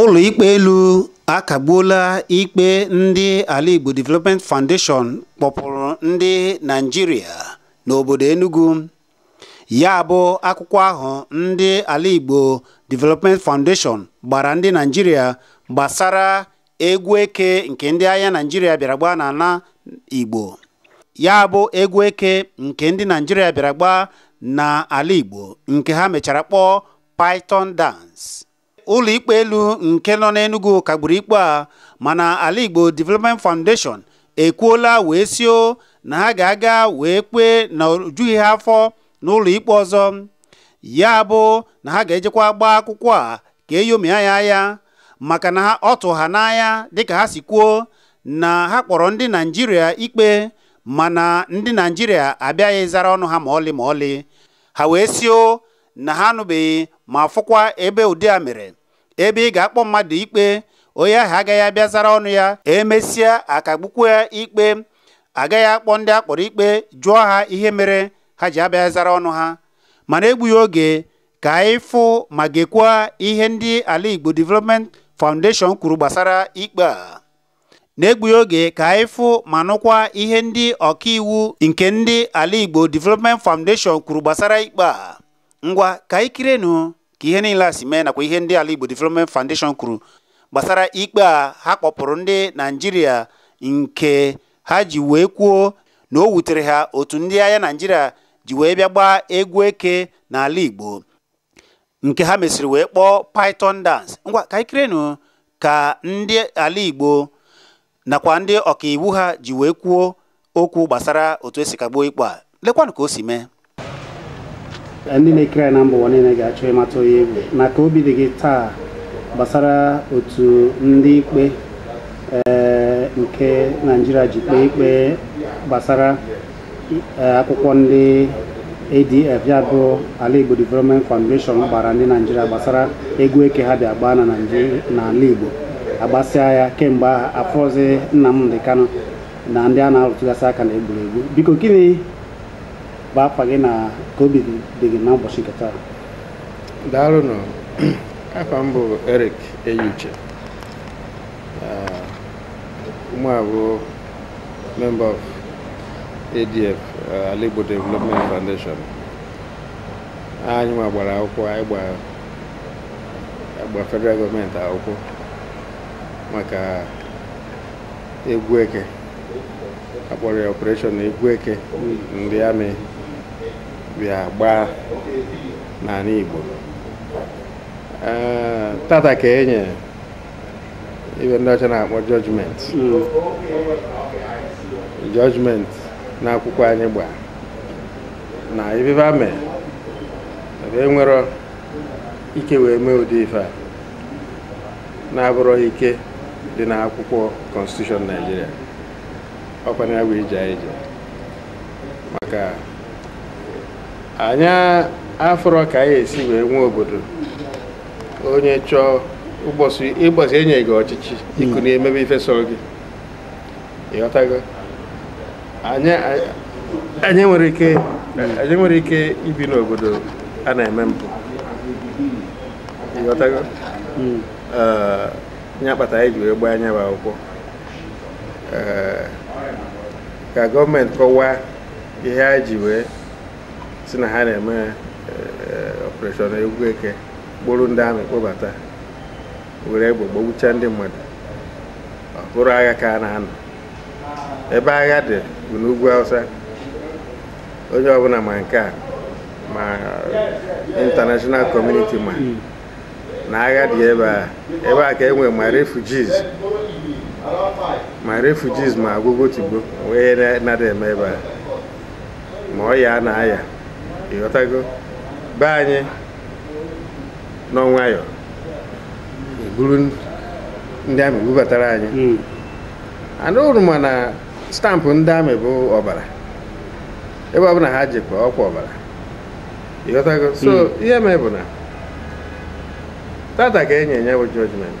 ụlọikpe elu akagbuola ikpe ndị ala igbo development foundation kpọpụrụ ndị naijiria n'obodo enugu ya bụ akwụkwọ ahụ ndị ala igbo development foundation gbara ndị naijiria gbasara egwu eke nke ndị agha naijiria bịara gbaa n'ala igbo ya bụ egwu eke nke ndị naijiria bịara gbaa n'ala igbo nke ha mechara kpọọ python dance ụlọikpe elu nke nọ n'Enugu kagburu ikpe a mana Ala Igbo Development Foundation ekwuola wee sio na ha ga-aga wee kpee na o jughị ha afọ n'ụlọikpe ọzọ ya bụ na ha ga-ejekwa gbaa akwụkwọ a ka e nyomia ya anya maka na ọ tụ ha n'anya dịka ha si kwuo na ha kpọrọ ndị Naijiria ikpe mana ndị Naijiria abịaghị zara ọnụ ha ma ọlị ma ọlị ha wee sio na ha anụbeghị ma fụkwa ebe ụdị a mere ebe ị ga-akpọ mmadụ ikpe onye ahụ agaghị abịa zara ọnụ ya emesịa akagbukwu ya ikpe agaghị akpọ ndị akpọrọ ikpe jụọ ha ihe mere ha ji abịa zara ọnụ ha mana egbughị oge ka anyị fụ ma gekwaa ihe ndị ala Igbo Development Foundation kwuru gbasara ikpe a na-egbughị oge ka anyị fụ ma nụkwa ihe ndị ọkaiwu nke ndị ala Igbo Development Foundation kwuru gbasara ikpe a ngwa ka anyị kirenụ ka ihe niile a si mee nakwa ihe ndị ala Igbo Development Foundation kwuru gbasara ikpe a ha kpọpụrụ ndị Naijiria nke ha ji wee kwuo na o wutere ha otu ndị agha Naijiria ji wee bịa gbaa egwu eke n'ala Igbo nke ha mesịrị wee kpọọ python dance ngwa ka anyị kirenụ ka ndị ala igbo nakwa ndị ọkaiwu ha ji wee kwuo okwu gbasara otu esi kagbuo ikpe a lekwanụ ka o si mee ndị na-ekiri anyị na mba ụwa niile ga-achọ ịmata onye ị bụ na ka obi dị gị taa gbasara otu ndị ikpe eh, nke naijiria ji kpee ikpe gbasara eh, akwụkwọ ndị ADF ya bụ ala Igbo Development Foundation gbara ndị Naijiria gbasara egwu eke ha bịa gbaa na na ala Igbo agbasịa ya kemgbe ahụ afọzi Nnamdi Kanu na ndị a na-arụtụgasị aka na e gburu egbu biko gịnị bụ afa gị na ka obi dị gị n'ụbọchị nke taa daalụnụ afa m bụ Eric Eyiuche Mụ bụ member of ADF, uh, Alaigbo Development Foundation. Anyị nwa gbara akwụkwọ anyị gba federal gọọmenti akwụkwọ maka egwu eke a kpọrọ ya operation egwu eke ndị army bịa gbaa n'ala Igbo Eh, tata ka e nye ife ndị ọcha na-akpọ judgment na akwụkwọ anyị gba na ife fa mee ebe e nwere ike wee mee ụdị ife a na-abụrọ ike dị na akwụkwọ constitution Nigeria ọ kwanụ ya bụ ije anyị je maka anyị afụrọ ka anyị esi wee nwee obodo onye chọọ ụbọsị e nye gị ọchịchị i kunie hmm. mebe ife sọrọ gị ịghọtago anyị nwere ike ibi n'obodo a na-eme mpụ ịghọtago hmm. ya kpata anyị ji wee gbaa nya bụ akwụkwọ ka gọọmenti kọwaa ihe ha ji wee sị na ha na-eme eh, operation egwu eke kpọrọ ndị army kpọbata were egbe gbagbucha ndị mmadụ ọ bụrụ agha ka a na-anụ ebe agha dị bụ n'ugwu Hausa onye ọbụla ma nke a ma international community ma na agha dị ebe a ebe a ka e nwe ma refugees ma refugees ma agwụgwọ tigbo wee na-adị eme ebe a ma ọya na aya ịghọtago be anyị nọ nwayọ e buru ndị army bubatara anyị hmm. anụrụ m na stamp ndị army bụ ọbara ebe ọbụla ha jekwa ọ kwa ọbara ịghọtago so hmm. ihe mee bụ na tata ka e nye ya bụ judgment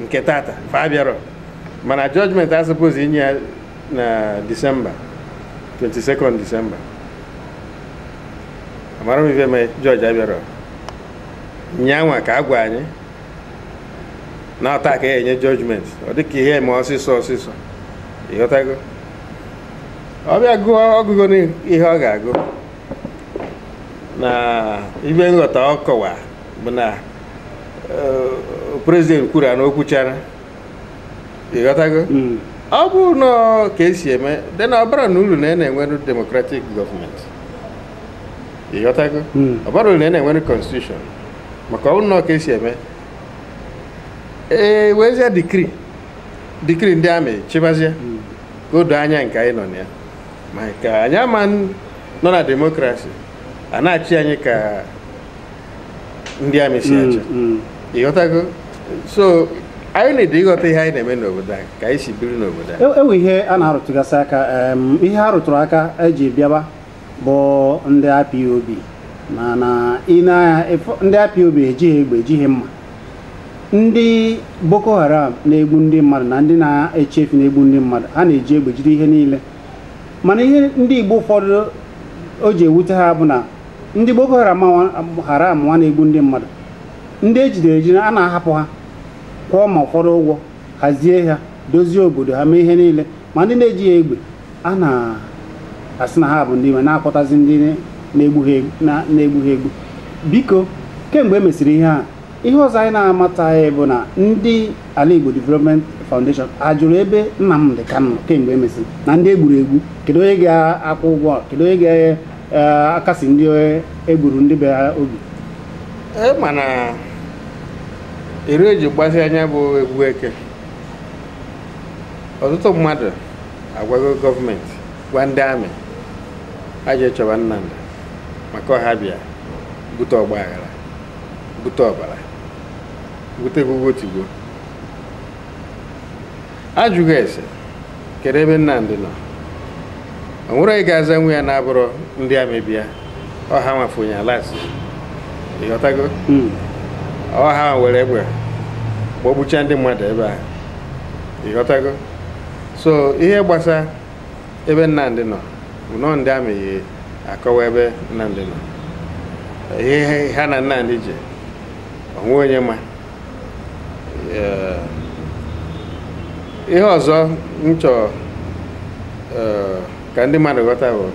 nke tata fa abịarọ mana judgment a suppose inye ya na December 22 December amarọ m ife mee judge abịarọ nyanwa ka a gwa anyị na ọ taa ka a ya-enye judgment ọ dịka ihe mee ọsịsọ ọsịsọ ịghọtago ọ bịa gụọ ọgụgụ n'ihe ọ ga-agụ na ife m ghọta ọ kọwa bụ na eh, prezident kwuru ya na o kwuchara ịghọtago Mm. ọ bụrụ na ọ ka esi eme dị na ọ baranụ uru na ị na-enwere demokratik gọọmenti ịghọtago Mm. ọ bara uru na ị na-enwere konstitushọn maka ọ bụrụ na ọ ka esi eme e wezie dikri dikri ndị amị chịbazie ka o doo anya nke anyị nọ na ya maka anyị ama n- nọ na demokrasi a na-achị anyị ka ndị amị si mm, achị mm. ịghọtago so anyị need ịghọta ihe anyị na-eme n'obodo anyị ka anyị si biri n'obodo anyị e, e we ihe a na-arụtụgasị aka ihe a rụtụrụ aka eji bịaba bụ ndị IPOB mana ndị IPOB ejighị egbe ejighị mma ndị Boko Haram na-egbu ndị mmadụ na ndị na-achị efi na-egbu ndị mmadụ ha na-eji egbe jide ihe niile mana ihe ndị Igbo ụfọdụ o ji ewute ha bụ na ndị Boko Haram Haram nwa na-egbu ndị mmadụ ndị ejidere ejide a na-ahapụ ha kwụọ ma ụfọdụ ụgwọ hazie ha dozie obodo ha mee ihe niile ma ndị na-ejighị egbe a na-asị na ha bụ ndị iwe na-akpọtazi ndị na-egbu ha egbu biko kemgbe e mesịrị ihe a ihe ọzọ anyị na-amataghị bụ na ndị Alaigbo Development Foundation ajụrụ ebe Nnamdị Kanu kemgbe emesi na ndị egburu egbu kedu onye ga-akwụ ụgwọ kedu onye ga-akasi eh, ndị egburu ndị be ha obi e mana eri e ji gbasịa nya bụ egwu eke ọtụtụ mmadụ agwago gọọmenti gwa ndị amị ha je chọba Nnamdị maka ọ ha bịa bute ọgba aghara bute ọbara bute gụgụ tigbo a jụ gị ese kedu ebe Nnamdị nọ o nwere onye ga-aza nwa ya na-abụrọ ndị amị bịa ọ ha nwa fụ onye a last ịghọtago hmm. ọ ha were egbe gbagbucha ndị mmadụ ebe a ịghọtago so ihe gbasa ebe Nnamdị nọ bụnụ ndị amị ya-akọwa ebe Nnamdị nọ ihe ha na Nnamdị ji o nwe onye ma ihe ọzọ m chọrọ ka ndị mmadụ ghọta bụ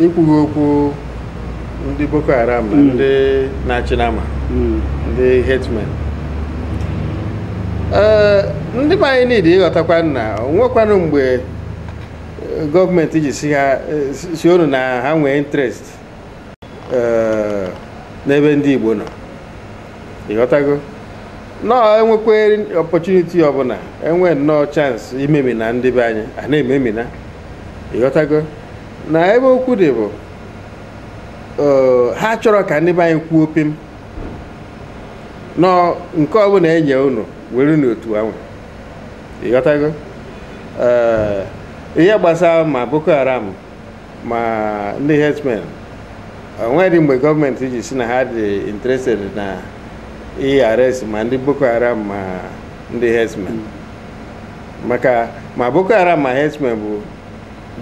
ikwughị okwu ndị Boko Haram na ndị na-achị nama ndị herdsmen ee ndị be anyị niile ịghọtakwa na o nwekwanụ mgbe eh, gọọmenti ji sị ha eh, sị- sị unu na ha nwee interest eh, n'ebe ndị Igbo nọ ịghọtago nọọ enwekwa opportunity ọbụla enwe nnọọ chance imemina ndị be anyị a na-ememina ịghọtago na ebe okwu dị bụ ha chọrọ ka ndị be anyị kwuo pim nọ nke ọbụla e nye unu werenụ otu ahụ ịghọtago ihe gbasara ma boko haram ma ndị herdsmen onwedị mgbe gọọmenti ji si na ha dị interested na ị-arrest ma ndị boko haram ma ndị herdsmen maka ma boko haram ma herdsmen bụ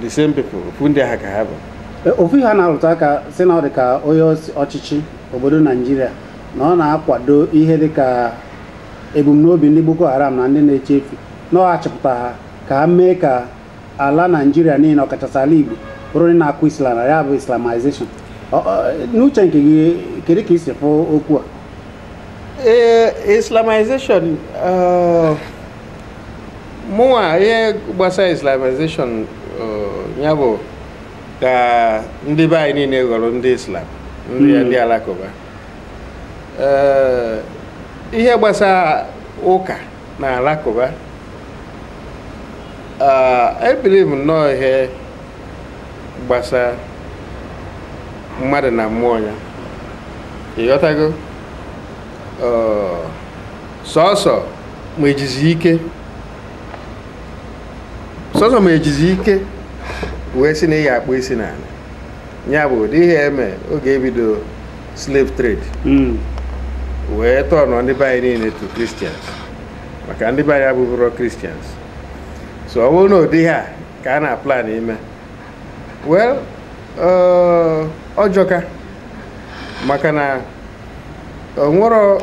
the same people ofu ndị ha ka ha bụ E, ofu ihe a na-arụta aka si na ọ dị ka onye isi ọchịchị obodo naijiria na ọ na-akwado ihe dị ka ebumnobi ndị boko haram na ndị na-eche efi na ọ achịpụta ha ka ha mee ka ala naijiria niile ọkachasị ala igbo bụrụ ndị na-akụ isi ala ya bụ islamization Ọ- ọ- n'uche nke gị kedu ka i si fụ okwu a ee islamization eh, mụnwa ihe gbasara islamization eh, ya bụ ka ndị be anyị niile ghọrọ ndị islam ndị Mm. ndị alakụba Eh, ihe gbasara ụka na alakụba I believe ah, nnọọ ihe gbasara mmadụ na mmụọ ya ịghọtago ah, sọsọ ma ejizi ike sọsọ ma ejizi ike wee si na ị ya-akpụ isi n'ala ya bụ ụdị ihe eme oge ebido slave trade hmm. wee turnọ ndị be anyị niile to Christians maka ndị be anyị abụbụrọ Christians so ọ bụrụ na ụdị ha ka a na-aplan ime well ọ jọka maka na onwerọ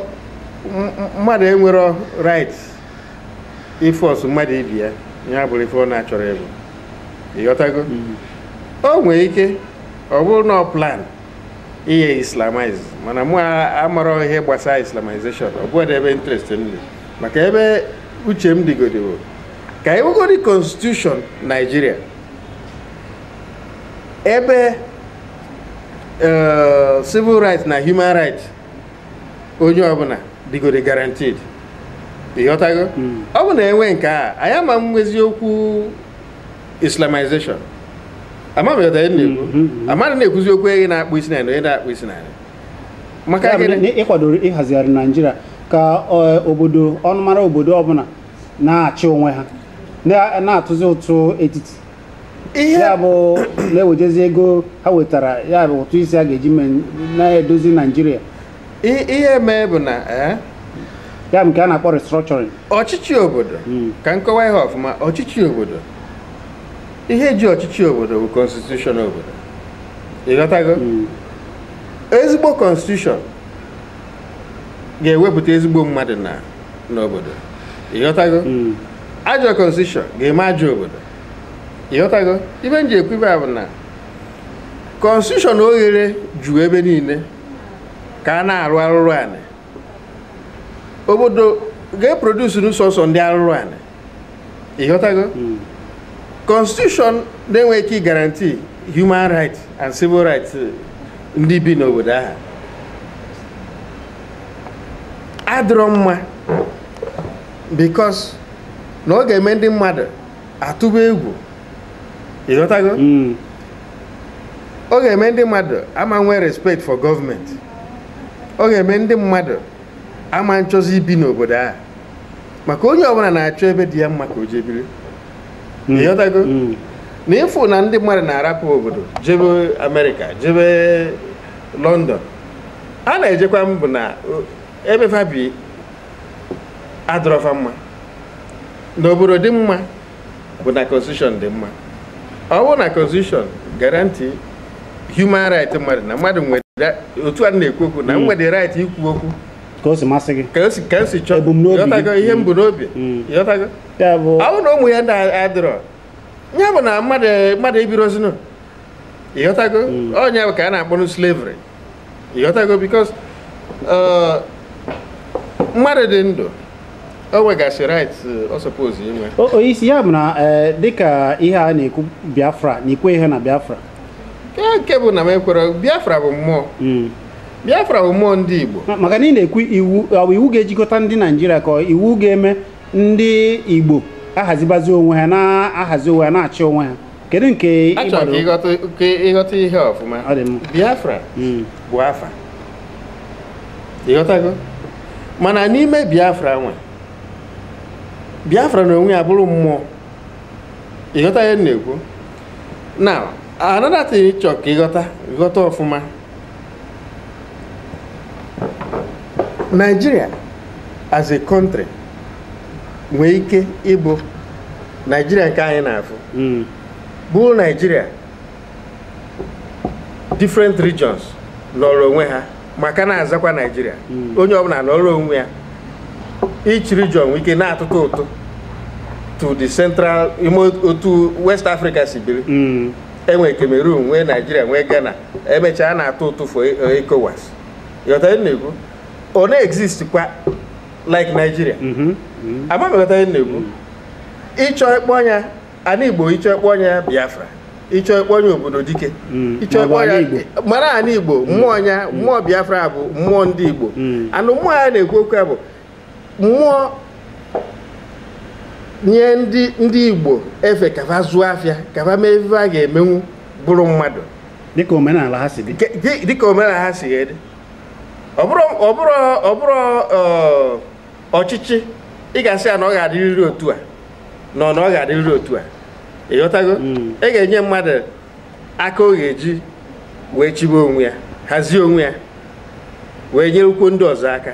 mmadụ enwerọ right ị-force mmadụ ịbịa ya bụrụ ife ọ na-achọrọ ịbụ ịghọtago o nwere ike ọ bụrụ na ọ plan ihe islamize mana mụ amarọ ihe gbasara islamization ọ bụghị ebe interest m dị maka ebe uche m dịgodi bụ ka enwegodi constitution naijiria ebe eh, civil rights na human rights onye ọbụla dịgodi guaranteed ịghọtago ọ bụ na enwe nke a anyị ama nwezi okwu islamization amaghị na mm-hmm. amaghị na-ekwuzi okwu onye na-akpụ isi n'anị onye na-akpụ isi n'anị maka ị kwadoro ịhazigharị naijiria ka e, obodo ọnụmara obodo ọbụla na-achị onwe ha na-atụzi ụtụ etiti ya bụ na-ewejezi ego ha wetara ya bụ ụtụ isi a ga-eji na-edozi naijiria I- ihe mee bụ na eh, ya bụ nke a na-akpọ restructuring ọchịchị obodo Mm. ka m kọwa ihe ọfụma ọchịchị obodo ihe ji ọchịchị obodo bụ constitution obodo ịghọtago Mm. ezigbo constitution ga-ewepụta ezigbo mmadụ na n'obodo ịghọtago Mm. ajọ constitution ga-eme ajọ obodo ịghọtago ife m ji ekwu ife a bụ na constitution oghere ju ebe niile ka a na-arụ arụrụ anị obodo ga-eproduce nụ sọọsọ ndị arụrụ anị ịghọtago constitution na-enweghị ike guarantee human rights and civil rights ndị bi n'obodo ahụ adịrọ mma because na ọ ga-eme ndị mmadụ atụba egwu ịghọtago ọ ga-eme ndị mmadụ ama nwee respect for government ọ ga-eme ndị mmadụ ama nchọzi ibi n'obodo a maka onye ọbụla na-achọ ebe dị ya mma ka o jee biri Mm. ịghọtago Mm. na ịfụ na ndị mmadụ na-arapụ obodo jebe amerịka jebe London a na-ejekwa m bụ na o- ebe fa bi adịrọ fa mma na obodo dị mma bụ na constitution dị mma ọ bụrụ na constitution guarantee human right mmadụ na mmadụ nwere otu a na-ekwu okwu na i nwere hmm. right ikwu okwu ka o si masị gị ka o si chọọ ịghọtago ihe m bu n'obi hmm. ịghọtago ọ bụ na ụmụ ihe ndị a adịrọ ya bụ na mmadụ ebirozinu ịghọtago hmm. ọ ya bụ ka a na-akpọnụ slavery ịghọtago because uh, mmadụ dị ndụ o nwegasị right uh, ọ suppose inwe O- onyeisi ya bụ na eh, dịka ihe a na-ekwu biafra na ikwe ihe na biafra nke nke bụ na m ekwere biafra bụ mmụọ Mm. biafra bụ mmụọ ndị igbo Ma- maka na ị na-ekwu iwu ọ bụ iwu ga-ejikọta ndị naijiria ka ọ iwu ga-eme ndị igbo ahazibazi onwe ha na-ahazi onwe ha na-achị onwe ha kedu nke ị chọrọ ka gbara ịghọta ka ịghọta ihe a ọfụma Ọ dị mma. biafra Mm. bụ afa ịghọtago mana n'ime biafra nwe biafra na onwe ya bụrụ mmụọ ịghọta ihe m na-ekwu na another thing ị chọrọ ka ịghọta ghọta ọfụma Nigeria as a country nwee ike ịbụ Nigeria nke anyị na-afụ hmm. bụ Nigeria different regions nọrọ onwe ha ma ka na-azakwa Nigeria hmm. onye ọbụla nọrọ onwe ya each region nwee ike na-atụtụ ụtụ to the central otu West Africa si biri hmm. enwe Cameroon nwee Naijiria nwee Ghana emechaa a na-atụ ụtụ for ECOWAS ịghọta ihe m na-ekwu ọ na-exist kwa like Nigeria ama m ịghọta ihe m na-ekwu ịchọ ịkpọ nya ana Igbo ịchọ ịkpọ nya Biafra ịchọ ịkpọ nya obodo dike Mm, ịchọ maọbụ ịkpọ nya ana Igbo. mana ana Igbo mmụọ nya mmụọ Biafra bụ mmụọ ndị Igbo Mm. and mmụọ a na-ekwu okwu ya bụ mmụọ nye ndị ndị igbo efe ka fa zụọ afịa ka fa mee ife fa ga-emenwu bụrụ mmadụ dịka omenala ha si dị Ke- dị- dịka omenala ha si dị ọ bụrụ ọ bụrụ ọ bụrụ ọ, ọchịchị ị ga-asị ya na ọ ga-adịrịrị otu a nọ na ọ ga-adịrịrị otu a ịghọtago Mm. ị ga-enye mmadụ aka ọ ga-eji wee chịbe onwe ya hazie onwe ya wee nyerekwuo ndị ọzọ aka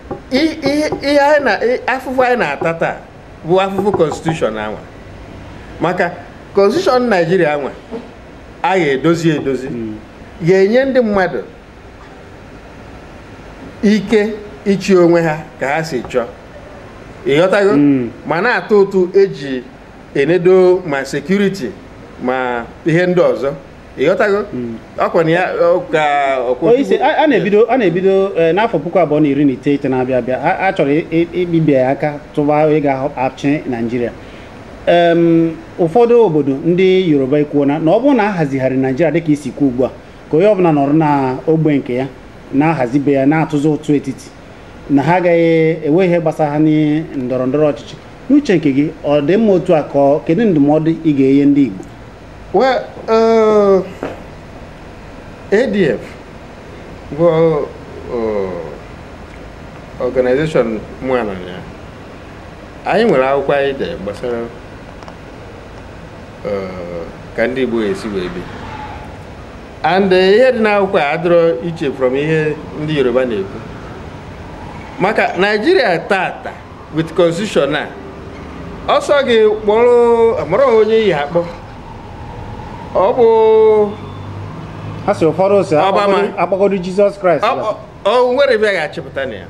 I- ihe ihe anyị na i- afụfụ anyị na-ata taa bụ afụfụ konstitushọn anwa maka konstitushọn naijiria anwa a ga-edozi edozi ga-enye ndị mmadụ ike ịchị onwe ha ka ha si chọọ ịghọtago Mm. ma na-atụ ụtụ eji enedo ma sekuriti ma ihe ndị ọzọ ịghọtago ọkwa na ya ọ ka ọkwa Onye isi, a a na-ebido a na-ebido eh, n'afọ puku abụọ na iri na iteghete na-abịa abịa a- a chọrọ i- i- ibibi ya aka tụba onye ga-achị naijiria Em, ụfọdụ obodo ndị yoruba ekwuona na ọ bụrụ na a hazigharị naijiria dịka i si kwuo ugbu a ka onye ọbụla nọrọ na ogbe nke ya na-ahazi be ya na-atụzi ụtụ etiti na ha agaghị enwe ihe gbasara ha na ndọrọ ndọrọ ọchịchị n'uche nke gị ọ dị mma otu a ka ọ- kedu ndụmọdụ ị ga-enye ndị igbo Well, uh, ADF bụ uh, organization mụa nọ na ya. Anyị nwere akwụkwọ anyị dere gbasara uh, ka ndị Igbo esi wee bi. And uh, ihe dị n'akwụkwọ a adịrọ iche from ihe ndị Yoruba na-ekwu. Maka Naijiria tata with constitution a ọ sọ gị kpọrọ amarọ m onye ị ya-akpọ ọ bụ ha si ụfọdụ si akpọgodu jizọs kraịst o nwerọ ebe a ga-achịpụta na ya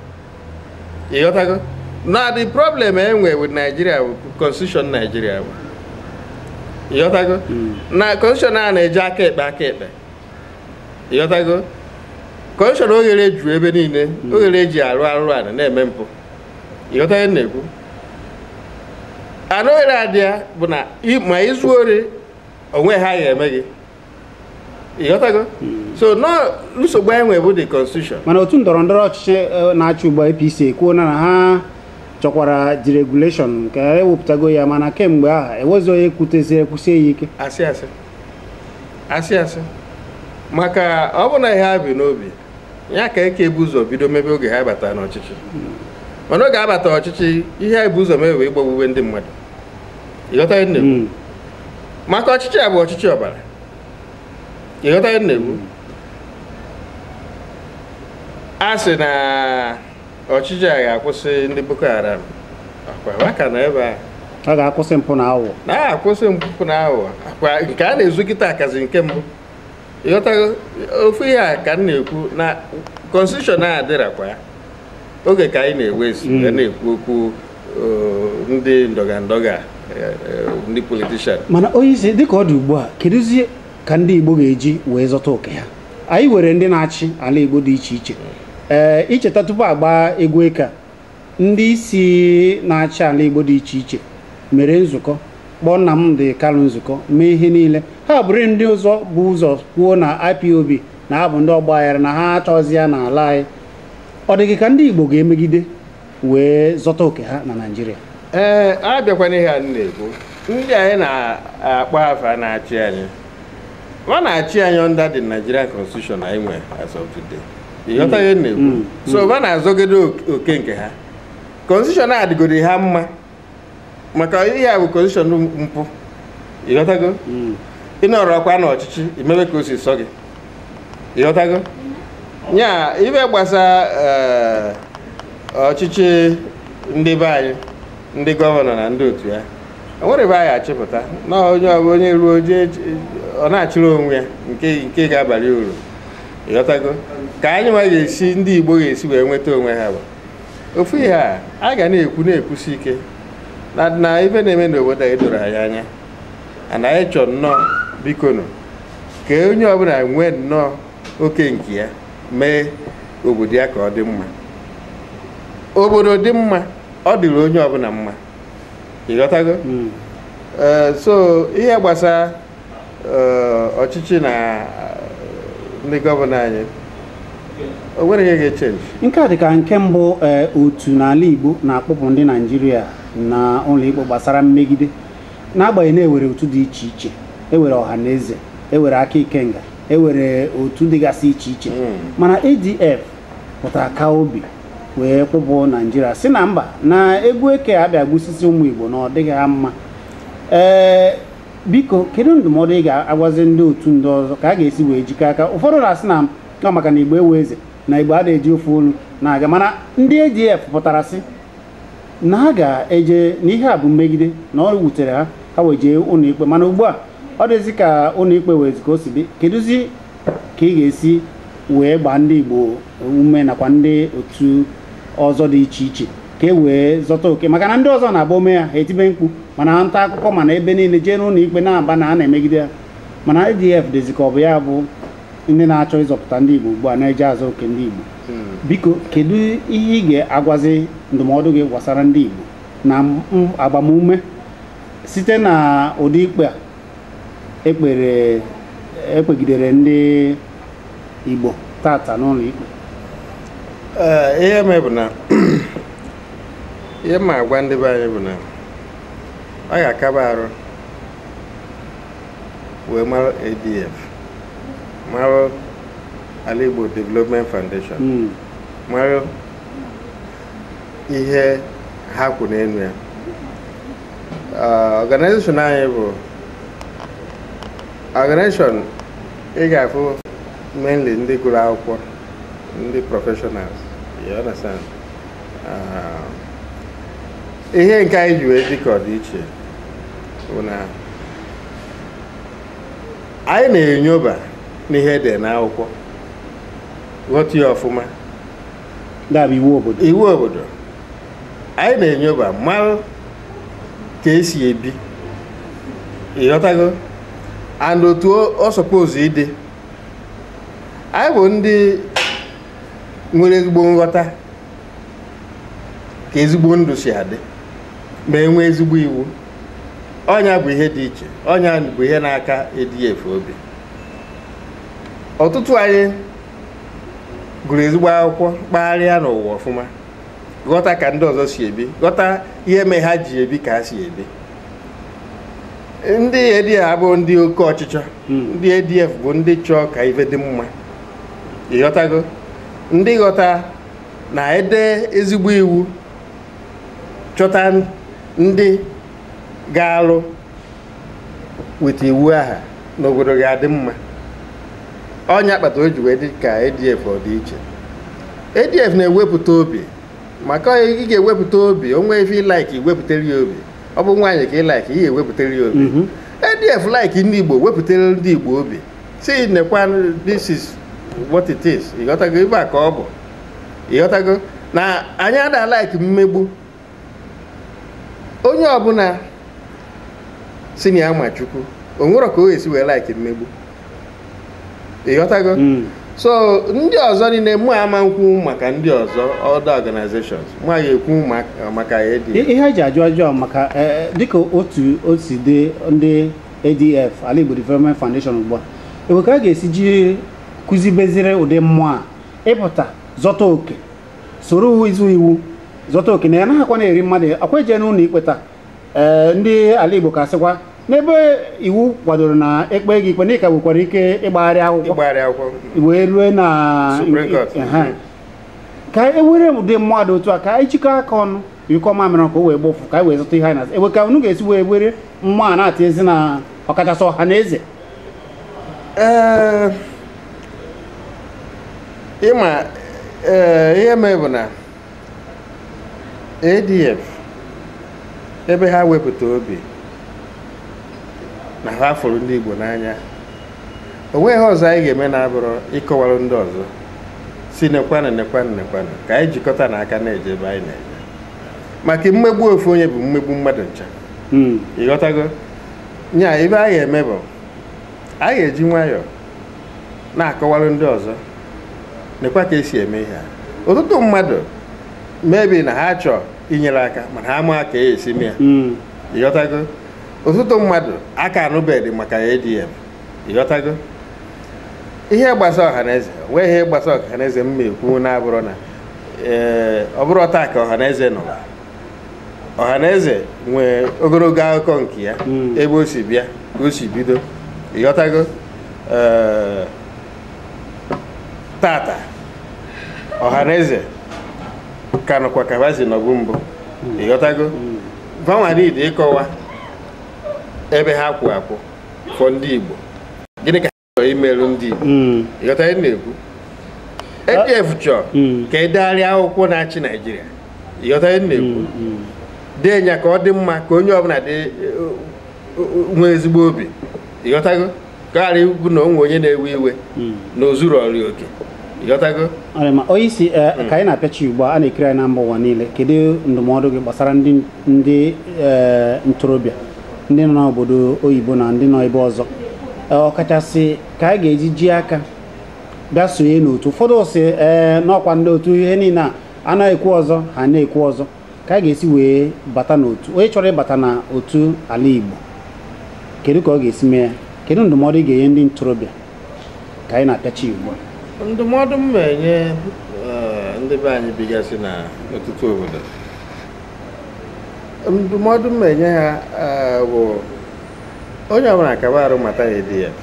ịghọtago na the problem e nwere with Nigeria constitution Nigeria ịghọtago hmm. na constitution a na-eji aka ekpe aka ekpe ịghọtago constitution oghere juru ebe niile hmm. oghere eji arụ arụrụ ala na-eme mpụ ịghọta ihe m na-ekwu anụ ere adị ya bụ na ma i zuo ori o nwe ihe a ya-eme gị ịghọtago hmm. so nọ nsogbu anyị nwe bụ the constitution mana otu ndọrọ ndọrọ ọchịchị e, na-achị ugbu a APC ekwuo na ha chọkwara deregulation nke ewepụtago ya mana kemgbe ahụ enwezi onye kwutezi ekwusie ya ike asị asị asị asị maka ọ bụ na ihe ha bu n'obi ya ka eke ebu ụzọ bido mebe oge ha bata n'ọchịchị mana oge ha bata ọchịchị ihe ebu ụzọ mebe bụ ịgbagbuwe ndị mmadụ ịghọta ihe m na-ekwu hmm. maka ọchịchị a bụ ọchịchị ọbara ịghọta ihe m na-ekwu a sị na ọchịchị a ga-akwụsị ndị Boko Haram akwa ha ka nọ ebe a a ga-akwụsị mpụ na aghụghọ na-akwụsị mpụ na aghụghọ akwa nke a na-ezu kịta akazi nke mbụ ịghọtago ofu ihe a ka m na-ekwu na constitution a adịrakwa ya oge ka anyị na-ewezi Mm. wee na-ekwu okwu eh, ndị ndọga ndọga eh, eh, ndị politician mana onye isi dịka ọ dị ugbu a kedụzie ka ndị Igbo ga-eji wee zọta oke ha anyị nwere ndị na-achị ala Igbo dị iche iche ee i cheta tupu a gbaa egwu eke a, ndị isi na-achị ala Igbo dị iche iche mere nzukọ kpọọ Nnamdi Kanu nzukọ mee ihe niile ha bụrụ ndị ụzọ bu ụzọ kwuo na IPOB na ha bụ ndị ọgba aghara na ha achọzi ya n'ala anyị ọ dị gị ka ndị Igbo ga-emegide wee zọta oke ha na Naịjirịa ee a bịakwa n'ihe a na-ekwu ndị anyị na-akpọ afa na-achị anyị ha na-achị anyị under the Nigerian constitution anyị nwe as of today ịghọta ihe m na-ekwu Mm. so ha na-azọgide ok- oke nke ha constitution a dịgoro ha mma maka ihe a bụ constitution mpụ ịghọtago Mm. ị nọrọkwa n'ọchịchị i mebe ka o si sọ gị ịghọtago ya ife gbasa eh, ọchịchị ndị be anyị ndị gọvanọ na ndị otu ya o nwere ebe a ya-achịpụta na onye ọbụ onye ruo jee ọ na-achịrị onwe ya nke nke ga-abalị uru ịghọtago ka anyị nwa ga-esi ndị Igbo ga-esi wee nweta onwe ha bụ ofu ihe a a ga na-ekwu na-ekwusi ike na na ife na-eme n'obodo anyị doro anyị anya and anyị chọ nnọọ bikonu ka onye ọbụla nwee nnọọ oke nke ya mee obodo ya ka ọ dị mma obodo dị mma ọ dịrị onye ọbụla mma ịghọtago hmm. eh, so ihe gbasa ọchịchị na ndị gọvanọ anyị o nwere ihe ga-echenji nke a dị ka nke mbụ otu n'ala Igbo na-akpụpụ ndị Naijiria na ụlọikpe gbasara mmegide n'agbanyeghị na e nwere otu dị iche iche e nwere Ọhanaeze e nwere Aka Ikenga e nwere otu dịgasị iche iche mana ADF pụtara kaa obi wee kpụpụ Naijiria sị na mba na egwu eke a bịa gbusisi ụmụ Igbo na ọ dịghị ha mma ee biko kedu ndụmọdụ ị ga-agwazi ndị otu ndị ọzọ ka a ga-esi wee jikọ aka ụfọdụ na-asị na ọ maka na Igbo enwe eze na Igbo adịghị eji ofu olu na-aga mana ndị ADF pụtara sị na ha ga-eje na ihe a bụ mmegide na ọ wutere ha ha wee jee ụlọikpe mana ugbu a ọ dịzi ka ụlọikpe nwezi ka o si dị kedụzi ka ị ga-esi wee gbaa ndị Igbo ume nakwa ndị otu ọzọ dị iche iche ka e wee zọta oke maka na ndị ọzọ na-abụ o mee ya ha etibe mkpu ma na nta akụkọ ma na ebe niile jee n'ụlọ ikpe na-aba na a na-emegide ya mana ADF dịzi ka ọ bụ ya bụ ndị na-achọ ịzọpụta ndị Igbo ugbu a na-eje azọ oke ndị Igbo biko kedu ihe ị ga-agwazi ndụmọdụ gị gbasara ndị Igbo na m- agbamume site na ụdị ikpe a e kpere e kpegidere ndị Igbo tata n'ụlọ ikpe ihe m ma bụ na ihe m ga-agwa ndị be anyị bụ na a ga-akaba arụ wee mara ADF mara Ala Igbo Development Foundation hmm. mara ihe ha kwụ n'elu ya organization anyị bụ organization ị ga-afụ mainly ndị gụrụ akwụkwọ ndị professionals you understand Ah, ihe nke anyị ji wee dị ka ọ dị iche bụ na anyị na-enyoba n'ihe dị n'akwụkwọ ghọta ya ọfụma na-abụ iwu obodo iwu obodo anyị na-enyoba mara ka e si ebi ịghọtago and otu ọ suppose ịdị anyị bụ ndị nwere ezigbo nghọta ka ezigbo ndụ si adị ma e nwee ezigbo iwu ọ nya bụ ihe dị iche ọ nya bụ ihe na-aka ADF obi ọtụtụ anyị gụrụ ezigbo akwụkwọ kpagharịa n'ụwa ọfụma ghọta ka ndị ọzọ si ebi ghọta ihe mee ha ji ebi ka ha si ebi ndị ADF abụghị ndị oke ọchịchọ ndị ADF bụ ndị chọọ ka ife dị mma ịghọtago ndị ghọta na e dee ezigbo iwu chọta ndị ga-alụ weta iwu aha n'obodo ga-adị mma ọ nya kpata o ji wee dị ka ADF ọ dị iche ADF na-ewepụta obi maka ị ga-ewepụta obi o nwee ife ị like i wepụtara ya obi ọ bụ nwaanyị ka ị like i wepụtara ya obi mhm. ADF like ndị Igbo wepụtara ndị Igbo obi si nekwa this is what it is ịghọtago ife a ka ọ bụ ịghọtago na anyị ada like mmegbu onye ọbụla si na ya ma chukwu o nwerọ ka ọ ya-esi wee like mmegbu ịghọtago hmm. so ndị ọzọ niile mụ ama nkwu maka ndị ọzọ other organizations mụ ya-ekwu maka ADF ihe e ji ajụ ajụjụ a maka e, e, dịka otu o si dị ndị ADF Ala Igbo Development Foundation ugbu a ewe ka a ga-esi ji kụzibezire ụdị mmụọ a ịpụta zọta oke soro uwe izu iwu zọta oke na ya naghịkwa na-eri mmadụ akwa eje n'ụlọ ikpe taa ee ndị ala igbo ka sịkwa n'ebe iwu kwadoro na e kpee gị ikpe na ị ka nwekwara ike ịgbagharị akwụkwọ ịgbagharị akwụkwọ wee rue na Supreme Court. Ehe. ka e were ụdị mmụọ dị otu a ka anyị chịkọ aka ọnụ nyụkọ mamịrị ka o wee gbọọ ụfụ ka anyị wee zọta ihe anyị na-azọ ewe ka unu ga-esi wee were mmụọ a na-atị ezi na ọkachasị ọha na eze ee ịma ee ihe mee bụ na adf ebe ha wepụta obi na ha fụrụ ndị igbo n'anya o nweghị ihe ọzọ anyị ga-eme na-abụrọ ịkọwara ndị ọzọ si nekwanụ nekwanụ nekwanụ ka anyị jikọtanụ aka na-eje ebe anyị na-eje maka mmegbu ofu onye bụ mmegbu mmadụ ncha ịghọtago nya ife anyị eme bụ anyị eji nwayọọ na-akọwara ndị ọzọ nekwa ka esi eme ihe a ọtụtụ mmadụ maybe na ha chọọ inyere aka mana ha ama ka esi mee ya hmm. ịghọtago ọtụtụ mmadụ aka anụbeghị maka ADF ịghọtago ihe gbasa ọhaneze wee ihe gbasa ọhaneze m na-ekwu na-abụrụ na ee eh, ọ bụrọ taa ka ọhaneze nọ ọhaneze nwee ogologo akụkọ nke ya hmm. ebe o si bịa ka o si bido ịghọtago eh, tata ọhaneze ka nọkwa ka va si nọbu mbụ hmm. ịghọtago vanwa need hmm. ịkọwa ebe ha kwụ akwụ for ndị Igbo gịnị ka imerụ ndị Igbo hmm. ịghọta ihe m na-ekwu ADF ah. chọrọ hmm. ka e degharịa akwụkwọ na-achị Naijiria ịghọta ihe m na-ekwu hmm, dee ya ka ọ dị mma ka onye ọbụla dị nwee ezigbo obi ịghọtago ka ọ ghara ịbụ na o nwe onye na-ewe iwe na ozuru ọrịa oke ịghọtago onye isi eh, ka anyị na-apịachi ugbu a na-ekiri anyị na mba ụwa niile kedu ndụmọdụ gị gbasara ndị eh, ntorobịa ndị nọ n'obodo oyibo na ndị nọ ebe ọzọ ọkachasị ka anyị ga-eji ji aka bịa sonye n'otu ụfọdụ sị na ọ kwa ndị otu ihe niile a na-ekwu ọzọ ha na-ekwu ọzọ ka anyị ga-esi wee bata n'otu onye chọrọ ịbata na otu ala Igbo kedu ka ọ ga-esi mee ya kedu ndụmọdụ ị ga-enye ndị ntorobịa ka anyị na-apịachi ugbu a ndụmọdụ m na-enye ndị be anyị bigasị na ọtụtụ obodo ndụmọdụ m na-enye ha eh, bụ onye ọbụla kaba arụ mata ADF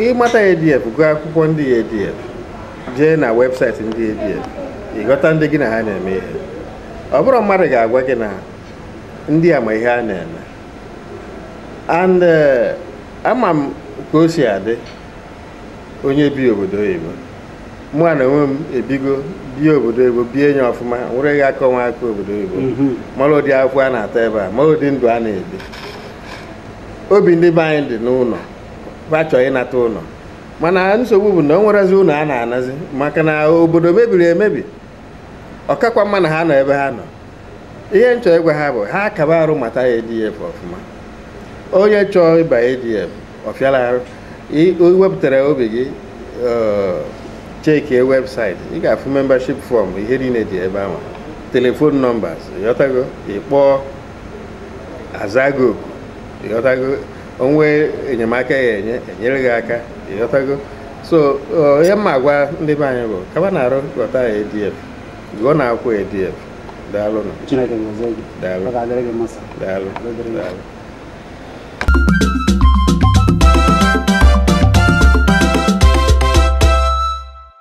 ị mata ADF gụọ akwụkwọ ndị ADF jee na webụsaịtị ndị ADF ị ghọta ndị gị na ha na-eme ihe ọ bụrọ mmadụ ga-agwa gị na ndị a ma ihe ha na-eme and eh, ama m ka o si adị onye bi obodo oyibo mụwa na onwe m ebigo bie obodo oyibo bie enye ọfụma nwere gị aka onwe aka obodo oyibo mhm. mara ụdị akwụ a na-ata ebe a mara ụdị ndụ a na-ebi obi ndị be anyị dị n'ụlọ ha chọọ ịnata ụlọ mana nsogbu bụ na o nwerọzi ụlọ a na-anazi maka na obodo mebiri emebi ọ kakwa mma na ha nọ ebe ha nọ ihe m chọ ịgwa ha bụ ha kaba arụ mata ADF ọfụma onye chọọ ịba ADF ọ fịarọ arụ i wepụtara obi gị chekie webụsaịtị ị ga-afụ membership fọm ihe niile dị ebe ahụ telefon nọmbas ịghọtago ị kpọọ azaa gị oku ịghọtago o nwee enyemaka a ya-enye enyere gị aka ịghọtago so ihe m na-agwa ndị be anyị bụ kabanụ arụ ghọta ADF gụọ na akwụkwọ ADF daalụ nụ chineke gozie gị daalụ ọ ga-adịrị gị mma sir. daalụ Ọ ga-adịrị gị. daalụ